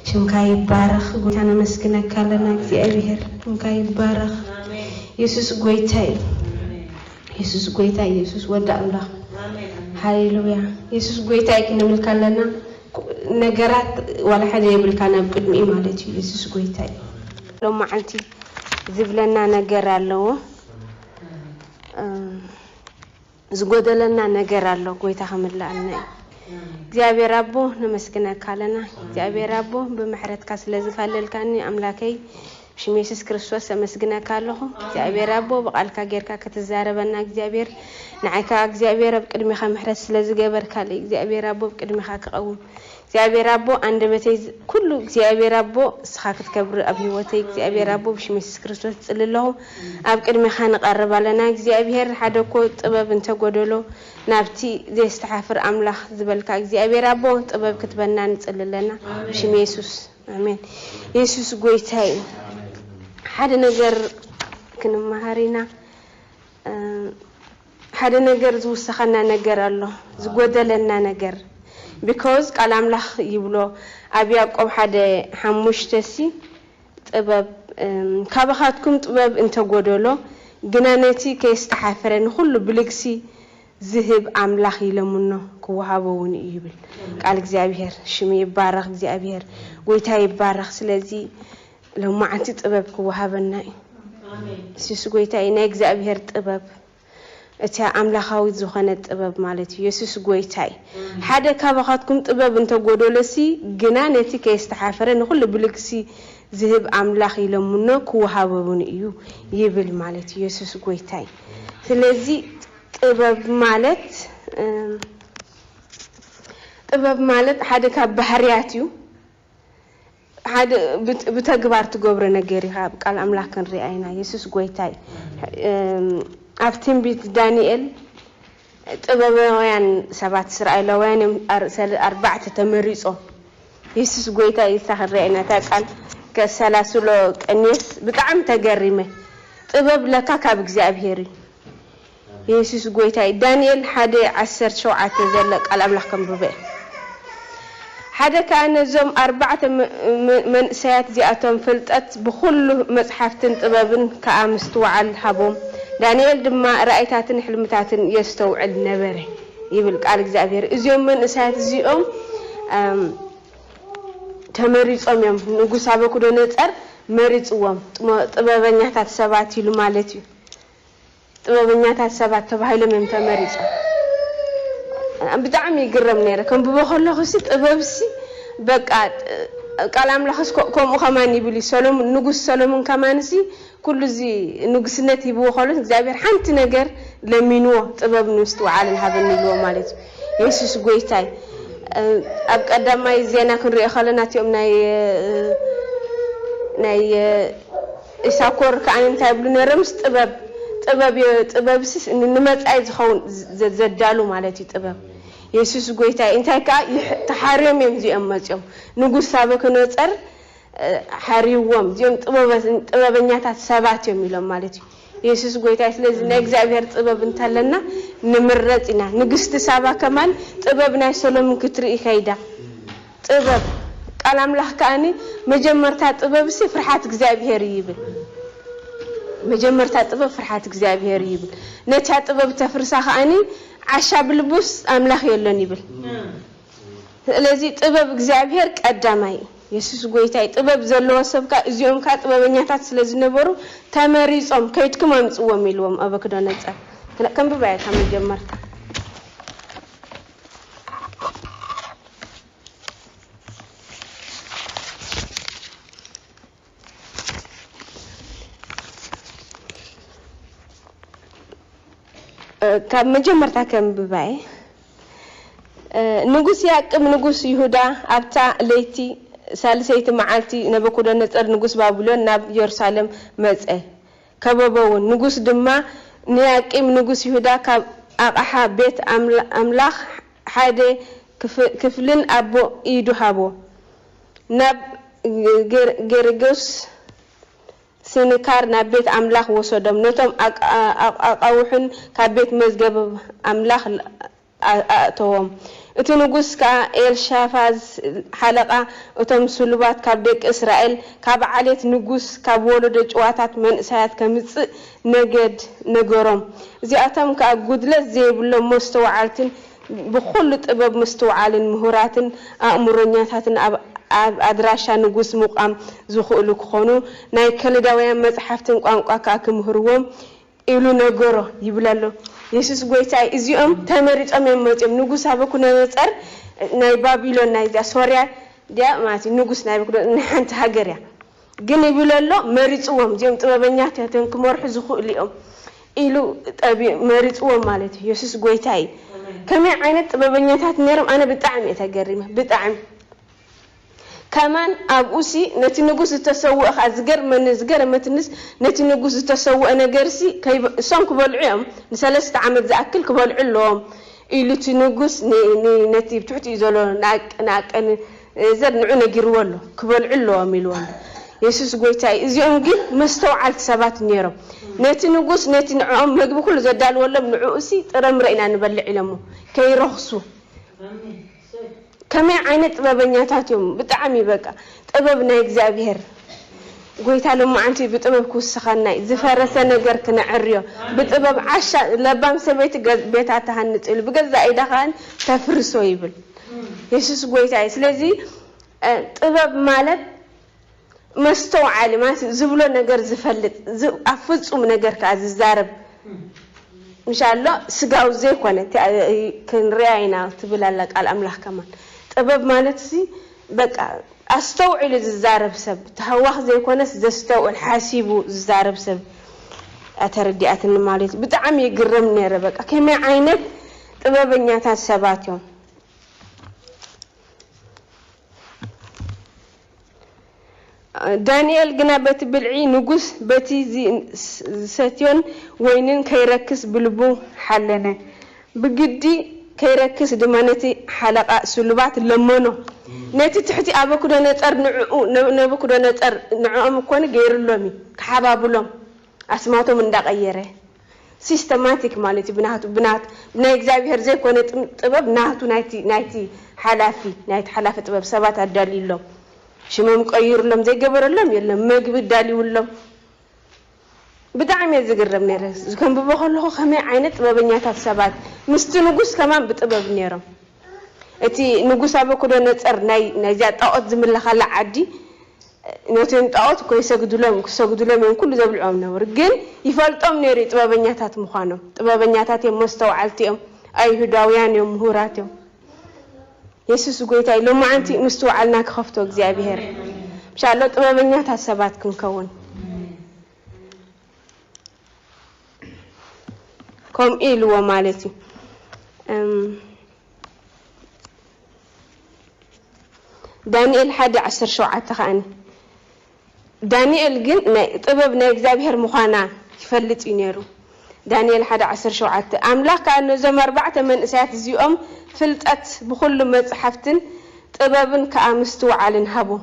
ሽምካ ይባረኽ ጎይታ ነመስግነካ ኣለና እግዚኣብሔር ሽምካ ይባረኽ የሱስ ጎይታ እዩ የሱስ ጎይታ የሱስ ወዲ ኣምላኽ ሃሌሉያ የሱስ ጎይታ እዩ ክንብልካ ኣለና ነገራት ዋላ ሓደ የብልካ ናብ ቅድሚኡ ማለት እዩ የሱስ ጎይታ እዩ ሎም መዓልቲ ዝብለና ነገር ኣለዎ ዝጎደለና ነገር ኣሎ ጎይታ ክምላኣልና እዩ እግዚኣብሔር ኣቦ ነመስግነካ ኣለና እግዚኣብሔር ኣቦ ብምሕረትካ ስለ ዝካለልካኒ ኣምላከይ ሽም የሱስ ክርስቶስ ኣመስግነካ ኣለኹ እግዚኣብሔር ኣቦ ብቃልካ ጌርካ ክትዛረበና እግዚኣብሔር ንዓይ ከዓ እግዚኣብሔር ኣብ ቅድሚካ ምሕረት ስለ ዝገበርካለይ እግዚኣብሔር ኣቦ ኣብ ቅድሚካ ክቐውም እግዚኣብሔር ኣቦ ኣንደበተይ ኩሉ እግዚኣብሔር ኣቦ እስኻ ክትከብር ኣብ ህይወተይ እግዚኣብሔር ኣቦ ብሽም የሱስ ክርስቶስ እጽሊ ኣለኹ ኣብ ቅድሜኻ ንቀርብ ኣለና እግዚኣብሔር ሓደ እኮ ጥበብ እንተ ጎደሎ ናብቲ ዘየስተሓፍር ኣምላኽ ዝበልካ እግዚኣብሔር ኣቦ ጥበብ ክትበና ንጽሊ ኣለና ብሽም የሱስ ኣሜን የሱስ ጎይታ እዩ ሓደ ነገር ክንመሃር ኢና ሓደ ነገር ዝውሰኸና ነገር ኣሎ ዝጎደለና ነገር because ቃል ኣምላኽ ይብሎ ኣብ ያእቆብ ሓደ ሓሙሽተ ሲ ጥበብ ካባኻትኩም ጥበብ እንተጎደሎ ግና ነቲ ከየስተሓፈረ ንኹሉ ብልግሲ ዝህብ ኣምላኽ ይለምኖ ክወሃቦ እውን እዩ ይብል ቃል እግዚኣብሄር ሽሙ ይባረኽ እግዚኣብሄር ጎይታ ይባረኽ ስለዚ ሎማዓንቲ ጥበብ ክወሃበና እዩ የሱስ ጎይታ እዩ ናይ እግዚኣብሄር ጥበብ እቲያ ኣምላካዊት ዝኾነት ጥበብ ማለት እዩ የሱስ ጎይታ እዩ ሓደ ካባኻትኩም ጥበብ እንተጎደሎሲ ግና ነቲ ከየስተሓፈረ ንኹሉ ብልግሲ ዝህብ ኣምላኽ ይለምኖ ክወሃበውን እዩ ይብል ማለት እዩ የሱስ ጎይታ እዩ ስለዚ ጥበብ ማለት ጥበብ ማለት ሓደ ካብ ባህርያት እዩ ሓደ ብተግባር ትገብሮ ነገር ኢካ ኣብ ቃል ኣምላክ ክንሪኣ ኢና የሱስ ጎይታ እዩ ኣብ ትንቢት ዳኒኤል ጥበባውያን ሰባት እስራኤላውያን እዮም ኣርባዕተ ተመሪጾም የሱስ ጎይታ እዩ እሳ ክንሪኣ ኢና እታ ቃል ከሰላስሎ ቀንየስ ብጣዕሚ ተገሪመ ጥበብ ለካ ካብ እግዚኣብሄር እዩ የሱስ ጎይታ እዩ ዳንኤል ሓደ ዓሰርተ ሸውዓተ ዘሎ ቃል ኣምላኽ ከንብቦ እየ ሓደ ከኣ ነዞም ኣርባዕተ መንእሰያት እዚኣቶም ፍልጠት ብኹሉ መጽሓፍትን ጥበብን ከኣ ምስትውዓል ሃቦም ዳንኤል ድማ ራእይታትን ሕልምታትን የስተውዕል ነበረ ይብል ቃል እግዚኣብሄር እዚኦም መንእሰያት እዚኦም ተመሪጾም እዮም ንጉስ ኣበኩዶነጸር መሪጽዎም ጥበበኛታት ሰባት ኢሉ ማለት እዩ ጥበበኛታት ሰባት ተባሂሎም እዮም ተመሪጾም። ብጣዕሚ ይግረም ነይረ ከንብቦ ከለኹሲ ጥበብሲ በቃ ቃል ኣምላኽስ ከምኡ ከማን ይብል እዩ ሰሎሙን ንጉስ ሰሎሙን ከማንሲ ኩሉ እዚ ንጉስነት ሂብዎ ከሎስ እግዚኣብሔር ሓንቲ ነገር ለሚንዎ ጥበብን ምስትውዓልን ሃበኒ ኢልዎ ማለት እዩ የሱስ ጎይታይ ኣብ ቀዳማይ ዜና ክንሪኦ ከለና እቲኦም ናይ ናይ ኢሳኮር ከኣ እንታይ ይብሉ ነይሮምስ ጥበብ ጥበብ እዮ ጥበብስስ ንመጻኢ ዝኸውን ዘዳሉ ማለት እዩ ጥበብ የሱስ ጎይታይ እንታይ ከኣ ይሕ ተሓርዮም እዮም እዚኦም መጺኦም ንጉስ ሳበክኖጸር ሓርይዎም እዚኦም ጥበበ ጥበበኛታት ሰባት እዮም ኢሎም ማለት እዩ የሱስ ጎይታይ ስለዚ ናይ እግዚኣብሄር ጥበብ እንተለና ንምረጽ ኢና ንግስቲ ሳባ ከማን ጥበብ ናይ ሰሎምን ክትርኢ ከይዳ ጥበብ፣ ቃል ኣምላኽ ከኣኒ መጀመርታ ጥበብሲ ፍርሓት እግዚኣብሄር እዩ ይብል። መጀመርታ ጥበብ ፍርሓት እግዚኣብሄር እዩ ይብል። ነታ ጥበብ እተፍርሳ ከኣኒ ዓሻ ብልቡስ ኣምላኽ የሎን ይብል። ስለዚ ጥበብ እግዚኣብሄር ቀዳማይ እዩ። የሱስ ጎይታይ ጥበብ ዘለዎ ሰብ ከኣ እዚኦም ከኣ ጥበበኛታት ስለ ዝነበሩ ተመሪጾም ከይድኩም ኣምጽዎም ኢልዎም ኣበክዶነጸር። ክንብባያ እታ መጀመርታ። ካብ መጀመርታ ከንብባየ ንጉስ ያቅብ ንጉስ ይሁዳ ኣብታ ለይቲ ሳልሰይቲ መዓልቲ ነበኩደነፀር ንጉስ ባቢሎን ናብ የሩሳሌም መፀ። ከበበውን። ንጉስ ድማ ንያቂም ንጉስ ይሁዳ ካብ ኣቕሓ ቤት ኣምላኽ ሓደ ክፍልን ኣቦ ኢዱ ሃቦ። ናብ ጌርጌስ ሲንካር ናብ ቤት ኣምላኽ ወሰዶም፣ ነቶም ኣቓውሕን ካብ ቤት መዝገብ ኣምላኽ ኣእተዎም። እቲ ንጉስ ከኣ ኤልሻፋዝ ሓለቓ እቶም ስሉባት ካብ ደቂ እስራኤል፣ ካብ ዓሌት ንጉስ፣ ካብ ወለዶ ጭዋታት መንእሰያት ከምጽእ ነገድ ነገሮም። እዚኣቶም ከኣ ጕድለት ዘይብሎም መስተውዓልትን ብዅሉ ጥበብ ምስትውዓልን ምሁራትን ኣእምሮኛታትን ኣብ ኣድራሻ ንጉስ ምቛም ዝኽእሉ ክዀኑ ናይ ከለዳውያን መጻሕፍትን ቋንቋ ከኣ ክምህርዎም ኢሉ ነገሮ ይብል ኣሎ የሱስ ጎይታይ እዚኦም ተመሪጾም እዮም መጽዮም ንጉስ ናቡኩደነጸር ናይ ባቢሎን ናይዚኣ ሶርያ ዲያ ማለት ንጉስ ናቡኩደ ንሓንቲ ሃገር እያ ግን ይብል ኣሎ መሪጽዎም እዚኦም ጥበበኛት እያቶም ክመርሑ ዝኽእሉ እዮም ኢሉ ጠቢ መሪጽዎም ማለት እዩ የሱስ ጎይታይ ከመይ ዓይነት ጥበበኛታት ነይሮም ኣነ ብጣዕሚ እየ ተገሪመ ብጣዕሚ ከማን ኣብኡሲ ነቲ ንጉስ ዝተሰውእ ከኣ ዝገርመኒ ዝገረመትንስ ነቲ ንጉስ ዝተሰውእ ነገርሲ ከይበ እሶም ክበልዑ እዮም ንሰለስተ ዓመት ዝኣክል ክበልዑ ኣለዎም ኢሉ እቲ ንጉስ ን ን ነቲ ብ ትሕቲኡ ዘሎ ንኣቅ ንኣቀን ዘር ንዑ ነጊርዎ ኣሎ ክበልዑ ኣለዎም ኢልዎ ኣሎ የሱስ ጎይታይ እዚኦም ግን መስተውዓልቲ ሰባት ኔሮም ነቲ ንጉስ ነቲ ንዕኦም መግቢ ኩሉ ዘዳልወሎም ንዕኡሲ ጥረምረ ኢና ንበልዕ ኢሎሞ ከይረኽሱ። ከመይ ዓይነት ጥበበኛታት እዮም ብጣዕሚ በቃ ጥበብ ናይ እግዚኣብሔር ጎይታ ሎማዓንቲ ብጥበብ ክውስኸና ዝፈረሰ ነገር ክነዕርዮ ብጥበብ ዓሻ ለባም ሰበይቲ ቤታ ትሃንፅ ኢሉ ብገዛእ ኢዳ ከኣ ተፍርሶ ይብል የሱስ ጎይታ እዩ ስለዚ ጥበብ ማለት መስተውዓሊ ማለት ዝብሎ ነገር ዝፈልጥ ኣብ ፍጹም ነገር ከኣ ዝዛረብ ምሻሎ ስጋዊ ዘይኮነ ክንሪኣ ኢና ትብል ኣላ ቃል ኣምላኽ ከማን ጥበብ ማለትሲ በቃ ኣስተውዒሉ ዝዛረብ ሰብ ተሃዋኽ ዘይኮነስ ዘስተውዕል ሓሲቡ ዝዛረብ ሰብ ኣተረዲኣትኒ ማለት ብጣዕሚ ይግረም ነይረ በቃ ከመይ ዓይነት ጥበበኛታት ሰባት እዮም ዳንኤል ግና በቲ ብልዒ ንጉስ በቲ ዚሰትዮን ወይንን ከይረክስ ብልቡ ሓለነ። ብግዲ ከይረክስ ድማ ነቲ ሓለቓ ስሉባት ለመኖ። ነቲ ትሕቲ ኣበኩደነጸር ንዕኡ፣ ነቡኩደነጸር ንዕኦም እኮኒ ገይሩሎም እዩ፣ ክሓባብሎም ኣስማቶም እንዳቐየረ። ሲስተማቲክ ማለት እዩ ብናቱ ብናቱ ብናይ እግዚኣብሄር ዘይኮነ ጥበብ ናቱ ናይቲ ናይቲ ሓላፊ ናይቲ ሓላፊ ጥበብ ሰባት ኣዳልዩሎም ሽሞም ቀይሩሎም ዘይገበረሎም የሎም መግቢ ኣዳልዩሎም ብጣዕሚ እየ ዝግረም ነይረ ዝከንብቦ ከለኹ ከመይ ዓይነት ጥበበኛታት ሰባት ምስቲ ንጉስ ከማን ብጥበብ ነይሮም እቲ ንጉስ ኣበኩዶ ነፀር ናይዚኣ ጣዖት ዝምለኻላ ዓዲ ነቲም ጣኦት እኮ ይሰግድሎም ክሰግድሎም እዮም ኩሉ ዘብልዕዎም ነበሩ ግን ይፈልጦም ነይሩ እዩ ጥበበኛታት ምዃኖም ጥበበኛታት እዮም መስተውዓልቲ እዮም ኣይሁዳውያን እዮም ምሁራት እዮም የሱስ ጎይታ እዩ ሎማዓንቲ ምስትውዓልና ክኸፍቶ እግዚኣብሄር ምሻሎ ጥበበኛታት ሰባት ክንከውን ከምኡ ኢልዎ ማለት እዩ ዳንኤል ሓደ ዓሰርተ ሸውዓተ ከኣ ዳንኤል ግን ናይ ጥበብ ናይ እግዚኣብሄር ምዃና ይፈልጥ እዩ ነይሩ። ዳንኤል ሓደ ዓሰርተ ሸውዓተ ኣምላኽ ከኣ ነዞም ኣርባዕተ መንእሰያት እዚኦም ፍልጠት ብዅሉ መጻሕፍትን ጥበብን ከኣ ምስትውዓልን ሃቦም።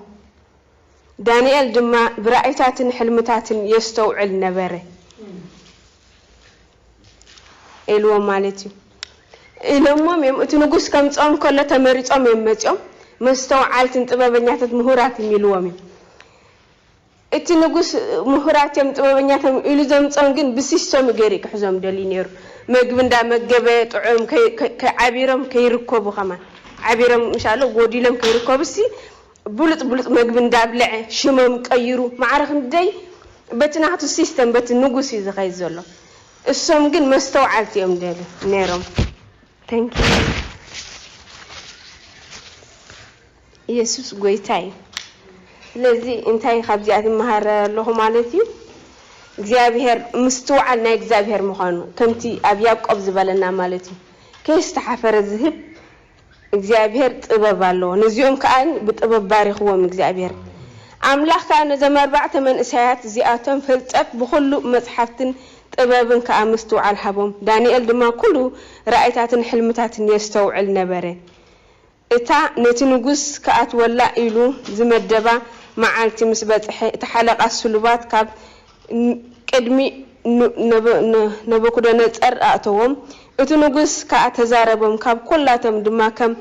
ዳንኤል ድማ ብራእይታትን ሕልምታትን የስተውዕል ነበረ። ኢልዎም ማለት እዩ። ኢሎሞም እዮም እቲ ንጉስ ከምጽኦም ከሎ ተመሪጾም እዮም መጺኦም መስተውዓልትን ጥበበኛታት ምሁራት እም ኢልዎም እዮም። እቲ ንጉስ ምሁራት እዮም ጥበበኛታት እዮም ኢሉ ዘምጾም ግን ብሲሶም ገይሩ እዩ ክሕዞም ደልዩ ነይሩ። መግቢ እንዳመገበ ጥዑም ከይ ከይ ከይ ዓቢሮም ከይርከቡ ከማን ዓቢሮም ምሻሎ ጎዲሎም ከይርከቡሲ ብሉጽ ብሉጽ መግቢ እንዳብለዐ ሽሞም ቀይሩ ማዕረ ክንደይ በቲ ናቱ ሲስተም በቲ ንጉስ እዩ ዝኸይድ ዘሎ እሶም ግን መስተውዓልቲ እዮም ደል ነይሮም Thank you ኢየሱስ ጎይታ እዩ ስለዚ እንታይ ካብዚኣት ይመሃረ ኣለኹ ማለት እዩ እግዚኣብሔር ምስትውዓል ናይ እግዚኣብሔር ምዃኑ ከምቲ ኣብ ያዕቆብ ዝበለና ማለት እዩ ከየስተሓፈረ ዝህብ እግዚኣብሄር ጥበብ ኣለዎ ነዚኦም ከኣ ብጥበብ ባሪኽዎም እግዚኣብሄር ኣምላኽ ከኣ ነዞም ኣርባዕተ መንእሰያት እዚኣቶም ፍልጠት ብኹሉ መጽሓፍትን ጥበብን ከኣ ምስትውዓል ሃቦም ዳንኤል ድማ ኩሉ ራእይታትን ሕልምታትን የስተውዕል ነበረ እታ ነቲ ንጉስ ክኣትወላ ኢሉ ዝመደባ መዓልቲ ምስ በጽሐ እቲ ሓለቓ ስሉባት ካብ ቅድሚ ነቡኩደነጸር ኣእተዎም፣ እቲ ንጉስ ከኣ ተዛረቦም፣ ካብ ኵላቶም ድማ ከም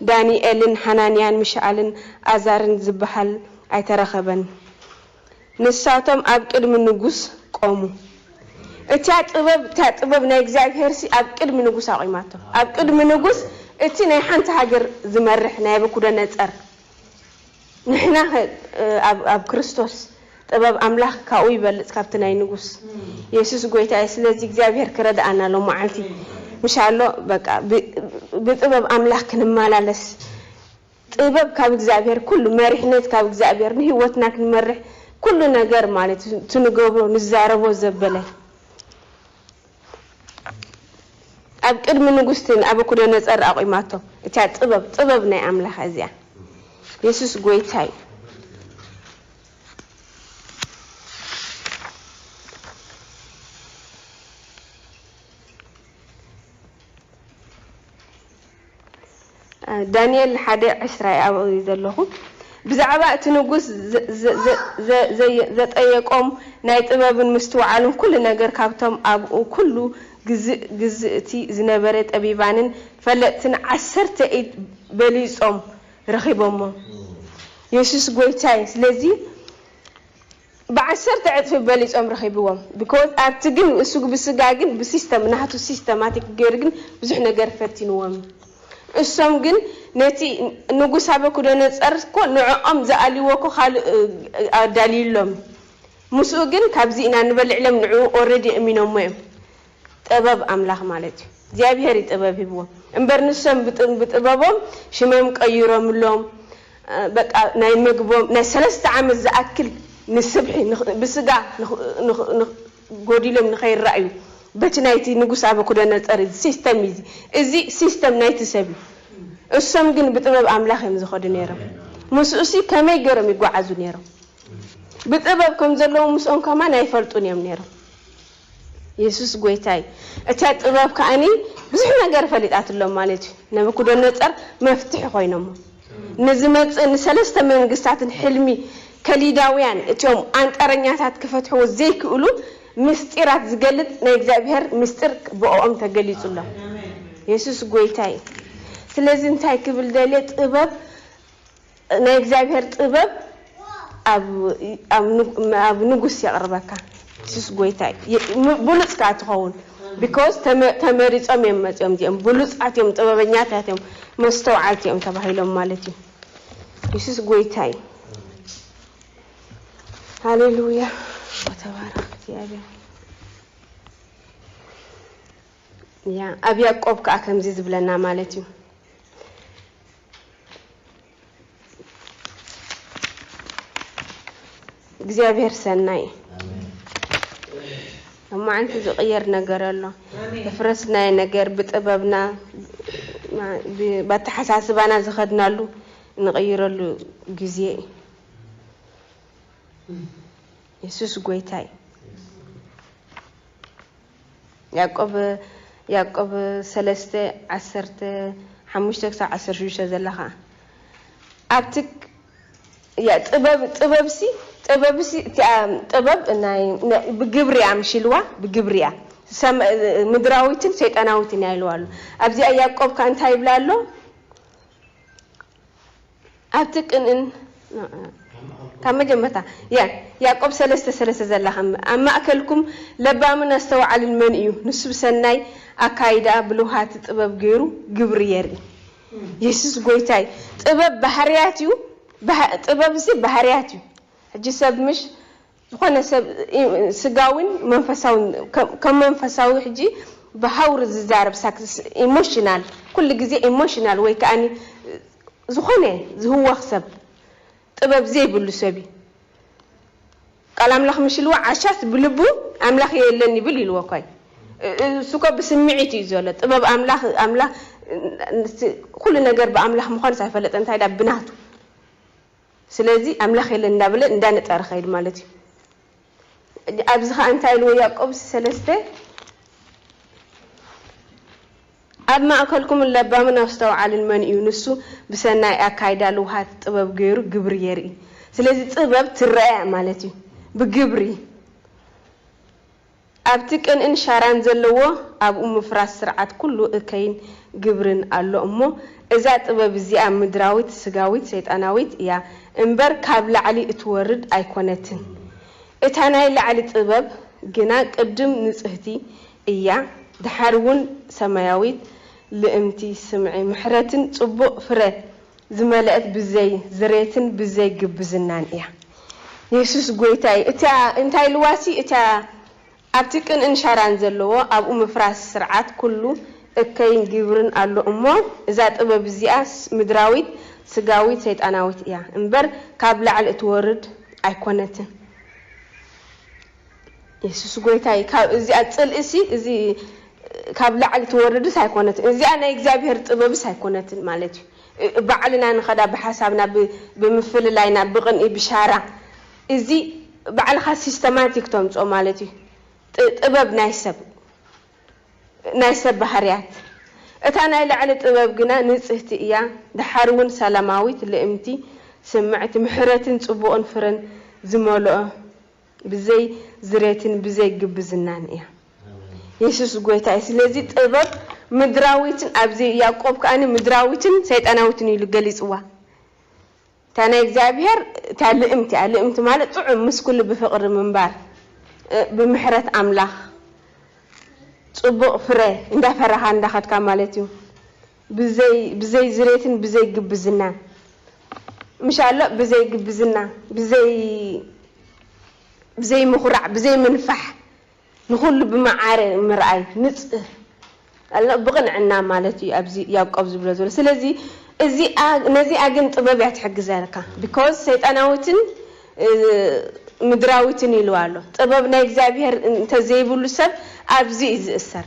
ዳንኤልን ሓናንያን ሚሻኣልን ኣዛርን ዚብሃል ኣይተረኸበን። ንሳቶም ኣብ ቅድሚ ንጉስ ቈሙ። እታ ጥበብ እታ ጥበብ ናይ እግዚኣብሄርሲ ኣብ ቅድሚ ንጉስ ኣቝማቶ፣ ኣብ ቅድሚ ንጉስ እቲ ናይ ሓንቲ ሃገር ዚመርሕ ናየቡኩደነጸር። ንሕናኸ ኣብ ክርስቶስ ጥበብ ኣምላኽ ካብኡ ይበልጽ ካብቲ ናይ ንጉስ የሱስ ጎይታ እዩ ስለዚ እግዚኣብሄር ክረድኣና ሎማዓልቲ ምሻሎ በቃ ብጥበብ ኣምላኽ ክንማላለስ ጥበብ ካብ እግዚኣብሄር ኩሉ መሪሕነት ካብ እግዚኣብሄር ንህይወትና ክንመርሕ ኩሉ ነገር ማለት እቲ ንገብሮ ንዛረቦ ዘበለ ኣብ ቅድሚ ንጉስቲ ንኣበኩደነጸር ኣቑማቶ እቲያ ጥበብ ጥበብ ናይ ኣምላኽ እዚኣ የሱስ ጎይታ እዩ። ዳንኤል ሓደ ዕስራ እየ ኣብኡ እየ ዘለኹ። ብዛዕባ እቲ ንጉስ ዘጠየቆም ናይ ጥበብን ምስትውዓልን ኩሉ ነገር ካብቶም ኣብኡ ኩሉ ግዝእ ግዝእቲ ዝነበረ ጠቢባንን ፈለጥትን ዓሰርተ ኢድ በሊጾም ረኺቦሞ። የሱስ ጎይታይ ስለዚ ብዓሰርተ ዕጽፊ በሊጾም ረኺብዎም because ኣብቲ ግን እሱግ ብስጋ ግን ብስስተም ናህቱ ሲስተማቲክ ገይሩ ግን ብዙሕ ነገር ፈቲንዎም እዩ እሶም ግን ነቲ ንጉስ ኣበኩደነጸር እኮ ንዖኦም ዝኣልይዎ እኮ ካልእ ኣዳልይሎም እዩ ምስኡ ግን ካብዚ ኢና ንበልዕ ኢሎም ንዕኡ already እሚኖሞ እዮም ጠበብ ኣምላኽ ማለት እዩ እግዚኣብሄር እዩ ጥበብ ሂብዎም እምበር ንሶም ብጥበቦም ሽመም ቀይሮምሎም በቃ ናይ መግቦም ናይ ሰለስተ ዓመት ዝኣክል ንስብሒ ብስጋ ጎዲሎም ንኸይራኣዩ በቲ ናይቲ ንጉስ ኣበኩደነጸር እዚ ሲስተም እዚ እዚ ሲስተም ናይቲ ሰብ እዩ እሶም ግን ብጥበብ ኣምላኽ እዮም ዝኸዱ ነይሮም ምስኡሲ ከመይ ገይሮም ይጓዓዙ ነይሮም ብጥበብ ከም ዘለዎም ምስኦም ከማን ኣይፈልጡን እዮም ነይሮም የሱስ ጎይታ እዩ እቲያ ጥበብ ከኣኒ ብዙሕ ነገር ፈሊጣትሎም ማለት እዩ ነብኩደነጸር መፍትሒ ኮይኖሞ ንዝመጽእ ንሰለስተ መንግስታትን ሕልሚ ከሊዳውያን እቲኦም ኣንጠረኛታት ክፈትሕዎ ዘይክእሉ ምስጢራት ዝገልጽ ናይ እግዚኣብሄር ምስጢር ብኦኦም ተገሊጹሎም የሱስ ጎይታ እዩ ስለዚ እንታይ ክብል ደልየ ጥበብ ናይ እግዚኣብሔር ጥበብ ኣብ ንጉስ የቅርበካ ሱስ ጎይታይ ብሉፅ ካዓ ትከውን ቢኮዝ ተመሪፆም እዮም መፅኦም እዚኦም ብሉፃት እዮም ጥበበኛታት እዮም መስተውዓልቲ እዮም ተባሂሎም ማለት እዩ የሱስ ጎይታ እዩ ሃሌሉያ ተባረክ እግዚኣብሔር ያ ኣብ ያቆብ ከዓ ከምዚ ዝብለና ማለት እዩ እግዚኣብሔር ሰናይ ኣብ መዓንቲ ዝቕየር ነገር ኣሎ ፍረስናይ ነገር ብጥበብና ብኣተሓሳስባና ዝኸድናሉ ንቕይረሉ ግዜ እዩ የሱስ ጎይታይ ያእቆብ ያእቆብ ሰለስተ ዓሰርተ ሓሙሽተ ክሳብ ዓሰርተ ሽዱሽተ ዘላ ኸኣ ኣብቲ ያ ጥበብ ጥበብሲ ጥበብሲ እቲኣ ጥበብ ናይ ብግብሪ እያ ምሽ ኢልዋ ብግብሪ እያ ምድራዊትን ሰይጣናዊትን እያ ኢልዋ ኣሎ ኣብዚኣ ያእቆብ ከኣ እንታይ ይብላ ኣሎ ኣብቲ ቅንእን ካብ መጀመርታ ያ ያዕቆብ ሰለስተ ሰለስተ ዘላ ከም ኣብ ማእከልኩም ለባምን ኣስተውዓልን መን እዩ ንሱ ብሰናይ ኣካይዳ ብልውሃቲ ጥበብ ገይሩ ግብሪ የርኢ የሱስ ጎይታ እዩ ጥበብ ባህርያት እዩ ጥበብ እዚ ባህርያት እዩ ሕጂ ሰብ ምሽ ዝኾነ ሰብ ስጋዊን መንፈሳዊን ከም መንፈሳዊ ሕጂ ብሃውሪ ዝዛረብ ሳክስ ኢሞሽናል ኩሉ ግዜ ኢሞሽናል ወይ ከኣ ዝኾነ ዝህወኽ ሰብ ጥበብ ዘይብሉ ሰብ እዩ ቃል ኣምላኽ ምሽ ኢልዎ ዓሻስ ብልቡ ኣምላኽ የለን ይብል ኢልዎ እኳዩ እሱ እኮ ብስምዒት እዩ ዘሎ ጥበብ ኣምላኽ ኣምላኽ ኩሉ ነገር ብኣምላኽ ምዃኑስ ኣይፈለጠን እንታይ ድኣ ብናቱ ስለዚ ኣምላኽ የለን እንዳበለ እንዳነጸረ ከይድ ማለት እዩ። ኣብዚ ከኣ እንታይ ኢልዎ ያዕቆብስ ሰለስተ ኣብ ማእከልኩምን ለባምን ኣስተውዓልን መን እዩ ንሱ ብሰናይ ኣካይዳ ልውሃት ጥበብ ገይሩ ግብሪ የርኢ። ስለዚ ጥበብ ትረኣ እያ ማለት እዩ ብግብሪ። ኣብቲ ቅንእን ሻራን ዘለዎ ኣብኡ ምፍራስ ስርዓት ኩሉ እከይን ግብርን ኣሎ እሞ እዛ ጥበብ እዚኣ ምድራዊት ስጋዊት ሰይጣናዊት እያ እምበር ካብ ላዕሊ እትወርድ ኣይኮነትን እታ ናይ ላዕሊ ጥበብ ግና ቅድም ንጽህቲ እያ ድሓር ውን ሰማያዊት ልእምቲ ስምዒ ምሕረትን ጽቡቅ ፍረ ዝመለእት ብዘይ ዝሬትን ብዘይ ግብዝናን እያ። የሱስ ጎይታ እዩ። እታ እንታይ ኢልዋ ሲ እታ ኣብቲ ቅንእን ሻራን ዘለዎ ኣብኡ ምፍራስ ስርዓት ኩሉ እከይን ግብርን ኣሎ እሞ እዛ ጥበብ እዚኣ ምድራዊት ስጋዊት ሰይጣናዊት እያ እምበር ካብ ላዕሊ እትወርድ ኣይኮነትን። የሱስ ጎይታይ ካብ እዚኣ ጽልእሲ እዚ ካብ ላዕሊ ትወርድስ ኣይኮነትን እዚኣ ናይ እግዚኣብሄር ጥበብስ ኣይኮነትን ማለት እዩ ባዕልና ንኸዳ ብሓሳብና ብምፍልላይና ብቕንኢ ብሻራ እዚ ባዕልኻ ሲስተማቲክ ተምጾ ማለት እዩ ጥበብ ናይ ሰብ ናይ ሰብ ባህርያት እታ ናይ ላዕሊ ጥበብ ግና ንጽህቲ እያ ደሓር እውን ሰላማዊት ልእምቲ ስምዕቲ ምሕረትን ጽቡቕን ፍረን ዝመልኦ ብዘይ ዝሬትን ብዘይ ግብዝናን እያ። የሱስ ጎይታ እዩ። ስለዚ ጥበብ ምድራዊትን ኣብዚ ያእቆብ ከኣ ምድራዊትን ሰይጣናዊትን ኢሉ ገሊጽዋ። እታ ናይ እግዚኣብሄር እታ ልእምቲ እያ። ልእምቲ ማለት ጥዑም ምስ ኩሉ ብፍቕሪ ምንባር ብምሕረት ኣምላኽ ጽቡቕ ፍረ እንዳፈራኻ እንዳኸድካ ማለት እዩ። ብዘይ ብዘይ ዝሬትን ብዘይ ግብዝናን ምሻሎ ብዘይ ግብዝና ብዘይ ብዘይ ምኹራዕ ብዘይ ምንፋሕ ንኹሉ ብማዓረ ምርኣይ ንጽህ ኣሎ ብቕንዕና ማለት እዩ ኣብዚ ያቆብ ዝብሎ ዘሎ ስለዚ እዚኣ ነዚኣ ግን ጥበብ እያ ትሕግዘካ because ሰይጣናዊትን ምድራዊትን ኢልዋ ኣሎ ጥበብ ናይ እግዚኣብሄር እንተዘይብሉ ሰብ ኣብዚ እዩ ዝእሰር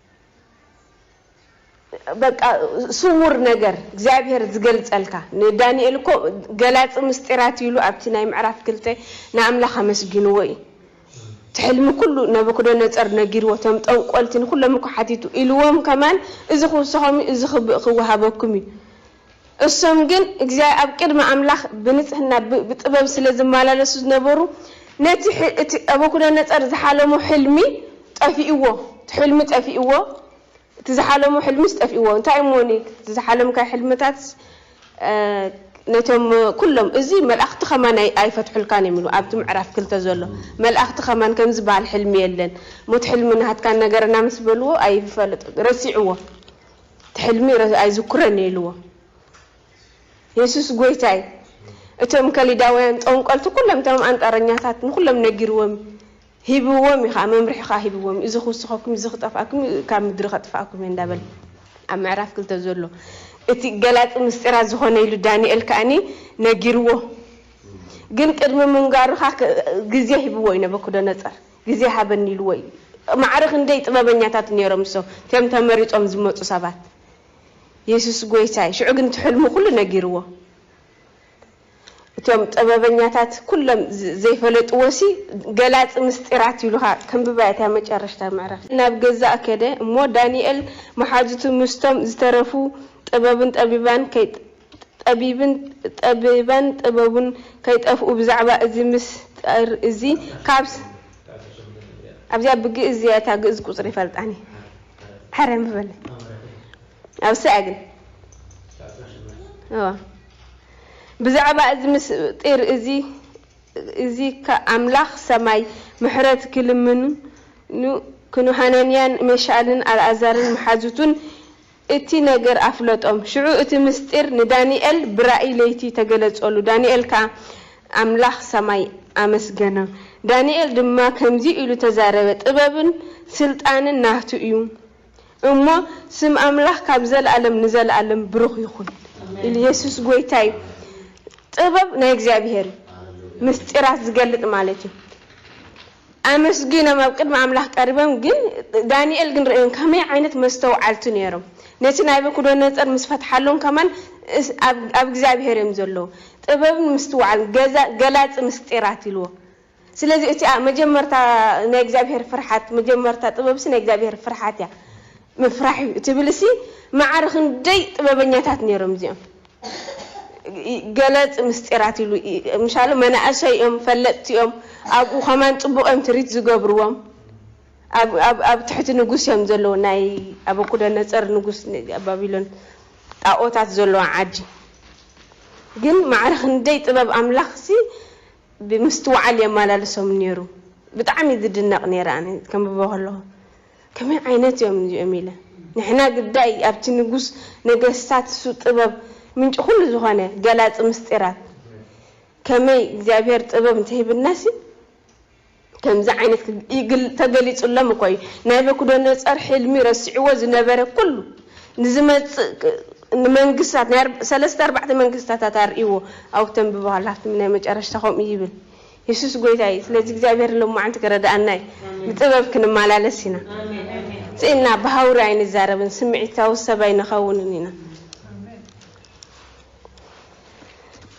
በቃ ስዉር ነገር እግዚኣብሄር ዝገልጸልካ ንዳንኤል እኮ ገላጺ ምስጢራት እዩ ኢሉ ኣብቲ ናይ ምዕራፍ ክልተ ንኣምላኽ ኣመስጊንዎ እዩ እቲ ሕልሚ ኩሉ ነቡክደነጸር ነጊርዎ እቶም ጠንቆልቲ ንኩሎም እኮ ሓቲቱ ኢልዎም ከማን እዚ ክውሰኾም እዩ እዚ ክወሃበኩም እዩ እሶም ግን እግዚኣ ኣብ ቅድሚ ኣምላኽ ብንጽህና ብ ብጥበብ ስለ ዝማላለሱ ዝነበሩ ነቲ ሕ እቲ ኣቡኩደነጸር ዝሓለሞ ሕልሚ ጠፊእዎ እቲ ሕልሚ ጠፊእዎ እቲ ዝሓለሞ ሕልሚስ ጠፊእዎ እንታይ እሞኒ እቲ ዝሓለምካዮ ሕልምታትስ ነቶም ኩሎም እዚ መልኣኽቲ ከማን ኣይ ኣይፈትሑልካን እዮም ኢሉ ኣብቲ ምዕራፍ ክልተ ዘሎ መልኣኽቲ ከማን ከም ዝበሃል ሕልሚ የለን እሞ እቲ ሕልሚ ናሃትካ ንገረና ምስ በልዎ ኣይፈለጦ ረሲዕዎ እቲ ሕልሚ ኣይዝኩረን እየ ኢልዎ የሱስ ጎይታይ እቶም ከሊዳውያን ጦንቆልቲ ኩሎም እቶም ኣንጣረኛታት ንኩሎም ነጊርዎም ሂብዎም እዩ ከዓ መምርሒ ከዓ ሂብዎም እዚ ክውስኸኩም እዚ ክጠፍኣኩም እዩ ካብ ምድሪ ከጥፍኣኩም እየ እንዳበለ ኣብ ምዕራፍ ክልተ ዘሎ እቲ ገላፂ ምስጢራት ዝኾነ ኢሉ ዳንኤል ከዓኒ ነጊርዎ ግን ቅድሚ ምንጋሩ ከዓ ግዜ ሂብዎ እዩ ነበኩደነፀር ግዜ ሃበኒ ኢልዎ እዩ ማዕረ ክንደይ ጥበበኛታት ኔሮም እሶ ም ተመሪጾም ዝመጹ ሰባት የሱስ ጎይታይ ሽዑ ግን እቲ ሕልሙ ኩሉ ነጊርዎ እቶም ጥበበኛታት ኩሎም ዘይፈለጥዎሲ ገላጺ ምስጢራት ኢሉካ ከንብባ እታ መጨረሽታ ምዕራፍ ናብ ገዛእ ከደ እሞ ዳንኤል መሓዙቱ ምስቶም ዝተረፉ ጥበብን ጠቢባን ከይ ጠቢብን ጠቢባን ጥበቡን ከይጠፍኡ ብዛዕባ እዚ ምስጢር እዚ ካብ ኣብዚኣ ብግእዝ እዚኣ እታ ግእዝ ቁጽሪ ይፈልጣኒ ሐረ ምበለ ኣብ ሰኣ ግን እዋ ብዛዕባ እዚ ምስጢር እዚ እዚ ኣምላኽ ሰማይ ምሕረት ክልምኑ ክንሃናንያን መሻልን ኣልኣዛርን መሓዙቱን እቲ ነገር ኣፍለጦም። ሽዑ እቲ ምሥጢር ንዳንኤል ብራእይ ለይቲ ተገለጸሉ፣ ዳንኤል ከኣ ኣምላኽ ሰማይ ኣመስገኖ። ዳንኤል ድማ ከምዚ ኢሉ ተዛረበ፣ ጥበብን ሥልጣንን ናቱ እዩ እሞ፣ ስም ኣምላኽ ካብ ዘለዓለም ንዘለዓለም ብሩኽ ይኹን። ኢየሱስ ጐይታ እዩ። ጥበብ ናይ እግዚኣብሔር እዩ፣ ምሥጢራት ዝገልጥ ማለት እዩ። ኣመስጊኖም ኣብ ቅድሚ ኣምላኽ ቀሪቦም ግን ዳንኤል ግን ርእዮም ከመይ ዓይነት መስተውዓልቲ ኔሮም ነቲ ናይበኩዶነጸር ምስ ፈትሓሎም ከማን ኣብ ኣብ እግዚኣብሄር እዮም ዘለዉ ጥበብን ምስትውዓልን ገዛ ገላጺ ምስጢራት ኢልዎ ስለዚ እቲ መጀመርታ ናይ እግዚኣብሄር ፍርሓት መጀመርታ ጥበብሲ ናይ እግዚኣብሄር ፍርሓት እያ ምፍራሕ እዩ ትብልሲ መዓር ክንደይ ጥበበኛታት ኔሮም እዚኦም ገለፂ ምስጢራት ኢሉ ምሻሉ መናእሰይ እዮም ፈለጥቲ እዮም ኣብኡ ከማን ፅቡቅ እዮም ትሪት ዝገብርዎም ኣብ ትሕቲ ንጉስ እዮም ዘለዉ ናይ ኣበኩደነፀር ንጉስ ባቢሎን ጣኦታት ዘለዋ ዓዲ ግን ማዕረ ክንደይ ጥበብ ኣምላኽሲ ብምስትውዓል የመላልሶም ነይሩ ብጣዕሚ ዝድነቅ ነይረ ኣነ ከንብቦ ከለኹ ከመይ ዓይነት እዮም እዚኦም ኢለ ንሕና ግዳይ ኣብቲ ንጉስ ነገስታት እሱ ጥበብ ምንጪ ኩሉ ዝኾነ ገላጺ ምስጢራት ከመይ እግዚኣብሔር ጥበብ እንተሂብናሲ ከምዚ ዓይነት ተገሊጹሎም እኮ እዩ ናይበኩደነጸር ሕልሚ ረሲዕዎ ዝነበረ ኩሉ ንዝመጽእ ንመንግስታት ናይ ሰለስተ ኣርባዕተ መንግስታታት ኣርእይዎ ኣብኡ ተንብቦ ሃላፍትም ናይ መጨረሽታ ከምኡ ይብል የሱስ ጎይታ እዩ ስለዚ እግዚኣብሄር ሎማዓንቲ ክረዳኣና እዩ ብጥበብ ክንማላለስ ኢና ስኢንና ብሃውሪ ኣይንዛረብን ስሚዒታዊ ሰብ ኣይንከውንን ኢና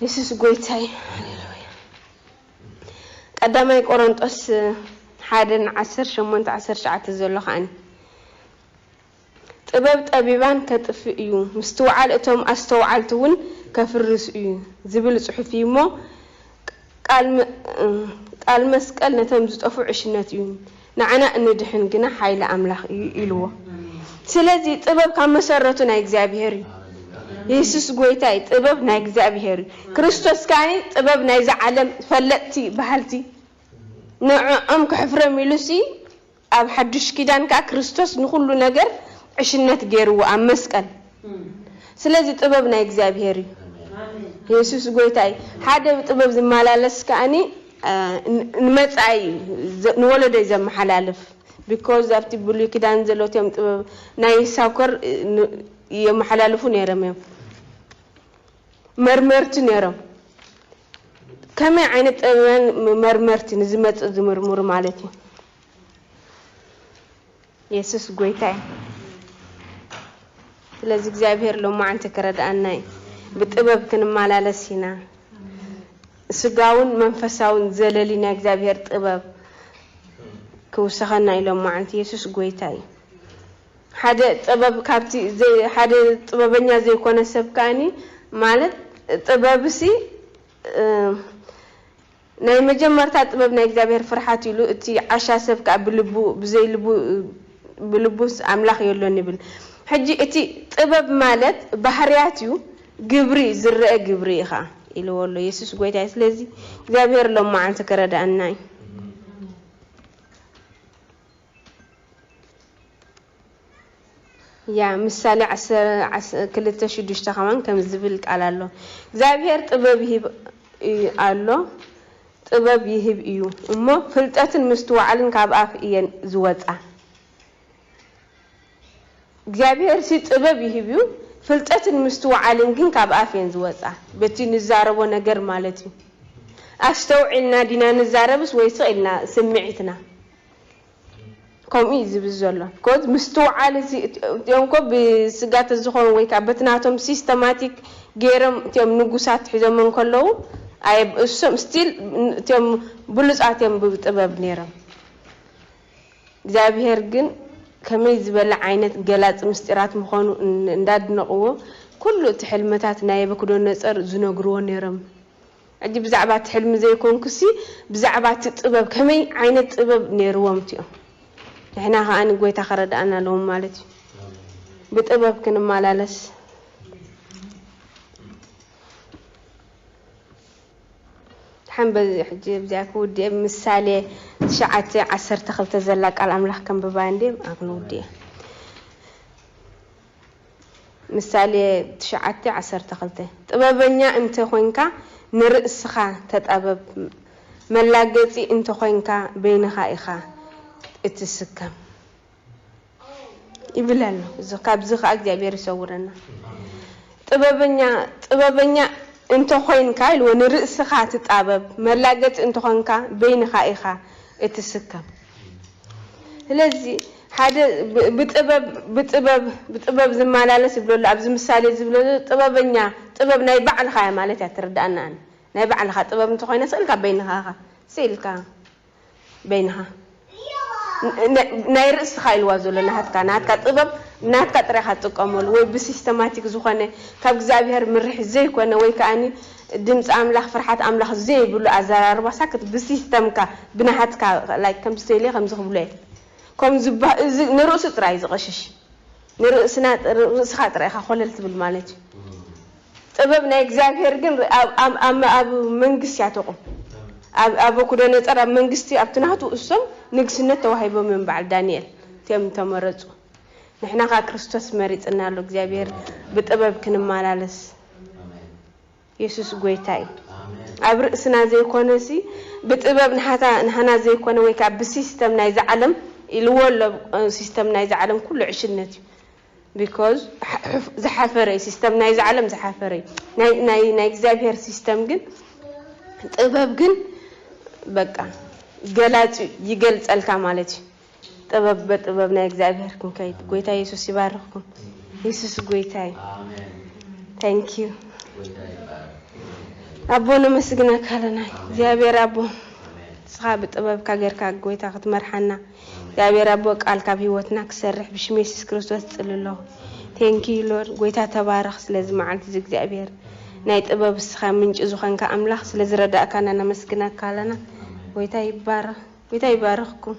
የሱስ ጎይታ እዩ ሃሌሉያ ቀዳማይ ቆሮንጦስ ሓደ ንዓሰርተ ሸሞንተ ዓሰርተ ትሽዓተ ዘሎ ከዓኒ ጥበብ ጠቢባን ከጥፍእ እዩ፣ ምስትውዓል እቶም ኣስተውዓልቲ እውን ከፍርስ እዩ ዝብል ጽሑፍ እዩ እሞ፣ ቃል መስቀል ነቶም ዝጠፍኡ ዕሽነት እዩ፣ ንዓና እንድሕን ግና ሓይሊ ኣምላኽ እዩ ኢልዎ። ስለዚ ጥበብ ካብ መሰረቱ ናይ እግዚኣብሄር እዩ። የሱስ ጎይታ እዩ፣ ጥበብ ናይ እግዚኣብሄር እዩ። ክርስቶስ ከኣ ጥበብ ናይዚ ዓለም ፈለጥቲ በሃልቲ ንዕኦም ከሕፍሮም ኢሉስ ኣብ ሓዱሽ ኪዳን ከኣ ክርስቶስ ንኹሉ ነገር ዕሽነት ጌርዎ ኣብ መስቀል ስለዚ ጥበብ ናይ እግዚኣብሄር እዩ የሱስ ጎይታ እዩ ሓደ ብጥበብ ዝመላለስ ከኣኒ ንመጻኢ እዩ ንወለዶይ ዘመሓላልፍ ቢኮዝ ኣብቲ ብሉይ ኪዳን ዘሎትዮም ጥበብ ናይ ሳውከር የመሓላልፉ ነይሮም እዮም መርመርቲ ነይሮም ከመይ ዓይነት ጠቢባን መርመርቲ ንዝመጽእ ዝምርምሩ ማለት እዩ። የሱስ ጎይታ እዩ። ስለዚ እግዚኣብሄር ሎማዓንቲ ክረድኣና እዩ። ብጥበብ ክንመላለስ ኢና። ስጋውን መንፈሳውን ዘለሊ ናይ እግዚኣብሄር ጥበብ ክውሰኸና እዩ ሎማዓንቲ። የሱስ ጎይታ እዩ። ሓደ ጥበብ ካብቲ ዘይ ሓደ ጥበበኛ ዘይኮነ ሰብ ከኣኒ ማለት ጥበብሲ ናይ መጀመርታ ጥበብ ናይ እግዚኣብሔር ፍርሓት እዩ ኢሉ እቲ ዓሻ ሰብ ከኣ ብልቡ ብዘይ ልቡ ብልቡስ ኣምላኽ የሎን ይብል ሕጂ እቲ ጥበብ ማለት ባህርያት እዩ ግብሪ ዝረኣ ግብሪ ኢኻ ኢልዎ ኣሎ የሱስ ጎይታ እዩ ስለዚ እግዚኣብሔር ሎማዓንቲ ክረዳኣና እዩ። ያ ምሳሌ ዓሰርተ ክልተ ሽዱሽተ ከማን ከምዚ ዝብል ቃል ኣሎ እግዚኣብሄር ጥበብ ይህብ እዩ ኣሎ ጥበብ ይህብ እዩ እሞ ፍልጠትን ምስትውዓልን ካብ ኣፍ እየን ዝወጻ። እግዚኣብሄርሲ ጥበብ ይህብ እዩ፣ ፍልጠትን ምስትውዓልን ግን ካብ ኣፍ እየን ዝወጻ፣ በቲ ንዛረቦ ነገር ማለት እዩ። ኣስተውዒልና ዲና ንዛረብስ ወይ ስቕ ኢልና ስምዒትና? ከምኡ እዩ ዝብል ዘሎ። ኮዝ ምስትውዓል እቲ እቲኦም እኮ ብስጋ ተዝኾን ወይ ከኣ በቲ ናቶም ሲስተማቲክ ጌሮም እቲኦም ንጉሳት ሒዞሞ እንከለዉ ኣየብእሱሶም ስቲል እቲኦም ብሉጻት እዮም ብጥበብ ኔሮም። እግዚኣብሄር ግን ከመይ ዝበለ ዓይነት ገላጺ ምስጢራት ምኾኑ እንዳድነቕዎ ኩሉ እቲ ሕልመታት ናይ የበኩዶነጸር ዝነግርዎ ነይሮም ሕጂ ብዛዕባ እቲ ሕልሚ ዘይኮንኩሲ ብዛዕባ እቲ ጥበብ ከመይ ዓይነት ጥበብ ነይርዎም እቲኦም ንሕና ከኣ ጎይታ ከረድኣና ኣለዎም ማለት እዩ ብጥበብ ክንመላለስ ድሓን በዚ ሕጂ ብዚኣ ክውድእየ ምሳሌ ትሽዓተ ዓሰርተ ክልተ ዘላ ቃል ኣምላኽ ከንብባ እንድየ ኣኣ ክንውድእየ ምሳሌ ትሽዓተ ዓሰርተ ክልተ ጥበበኛ እንተ ኮንካ ንርእስኻ ተጣበብ መላገጺ እንተ ኮንካ በይንኻ ኢኻ እትስከም። ይብል ኣሎ እዚ ካብዚ ከኣ እግዚኣብሔር ይሰውረና። ጥበበኛ ጥበበኛ እንተ ኮይንካ ኢልዎ ንርእስኻ ትጣበብ መላገጺ እንተ ኮንካ በይንኻ ኢኻ እትስከም ስለዚ ሓደ ብጥበብ ብጥበብ ብጥበብ ዝመላለስ ይብሎ ኣሎ ኣብዚ ምሳሌ ዝብሎ ዘሎ ጥበበኛ ጥበብ ናይ ባዕልኻ እያ ማለት እያ እትርድኣና ኣነ ናይ ባዕልኻ ጥበብ እንተ ኮይና ስእልካ በይንኻ ኢኻ ስኢልካ በይንኻ ናይ ርእስኻ ኢልዋ ዘሎ ናሃትካ ናሃትካ ጥበብ ናትካ ጥራይ ኢኻ ትጥቀመሉ ወይ ብሲስተማቲክ ዝኾነ ካብ እግዚኣብሄር ምርሒት ዘይኮነ ወይ ከኣኒ ድምጺ ኣምላኽ ፍርሓት ኣምላኽ ዘይብሉ ኣዘራርባ ሳክት ብሲስተምካ ብናሃትካ like ከምዚ ተይለ ከምዚ ክብሎ እየ ከምኡ ዝባ እዚ ንርእሱ ጥራይ ዝቐሽሽ ንርእስና ርእስኻ ጥራይ ኢኻ ኮለል ትብል ማለት እዩ ጥበብ ናይ እግዚኣብሔር ግን ኣብ መንግሥት እያ ተቁም ኣብ ኣበኩደነጸር ኣብ መንግሥቲ ኣብቲ ናቱ እሶም ንግሥነት ተዋሂቦም እዮም በዓል ዳንኤል እቲኦም እተመረጹ ንሕና ከኣ ክርስቶስ መሪጽና ኣሎ እግዚኣብሔር ብጥበብ ክንማላለስ የሱስ ጎይታ እዩ ኣብ ርእስና ዘይኮነሲ ብጥበብ ንሓታ ንሓና ዘይኮነ ወይ ከኣ ብሲስተም ናይዚ ዓለም ኢልዎ ኣሎ ሲስተም ናይዚ ዓለም ኩሉ ዕሽነት እዩ Because ዝሓፈረ እዩ ሲስተም ናይዚ ዓለም ዝሓፈረ እዩ ናይ ናይ ናይ እግዚኣብሔር ሲስተም ግን ጥበብ ግን በቃ ገላጺ ይገልጸልካ ማለት እዩ ጥበብ በጥበብ ናይ እግዚኣብሔር ክንከይድ ጎይታ ኢየሱስ ይባርኽኩም ኢየሱስ ጎይታ እዩ ታንክ ዩ ኣቦ ነመስግነካ ኣለና እግዚኣብሔር ኣቦ ንስኻ ብጥበብካ ጌርካ ጎይታ ክትመርሓና እግዚኣብሔር ኣቦ ቃልካ ኣብ ህይወትና ክሰርሕ ብሽም የሱስ ክርስቶስ እጽሊ ኣለኩ Thank you Lord ጎይታ ተባረክ ስለዚ መዓልቲ እዚ እግዚኣብሔር ናይ ጥበብ እስካ ምንጪ ዝኮንካ ኣምላክ ስለ ዝረዳእካና ነመስግነካ ኣለና ጎይታ ይባረክ ጎይታ ይባርክኩም።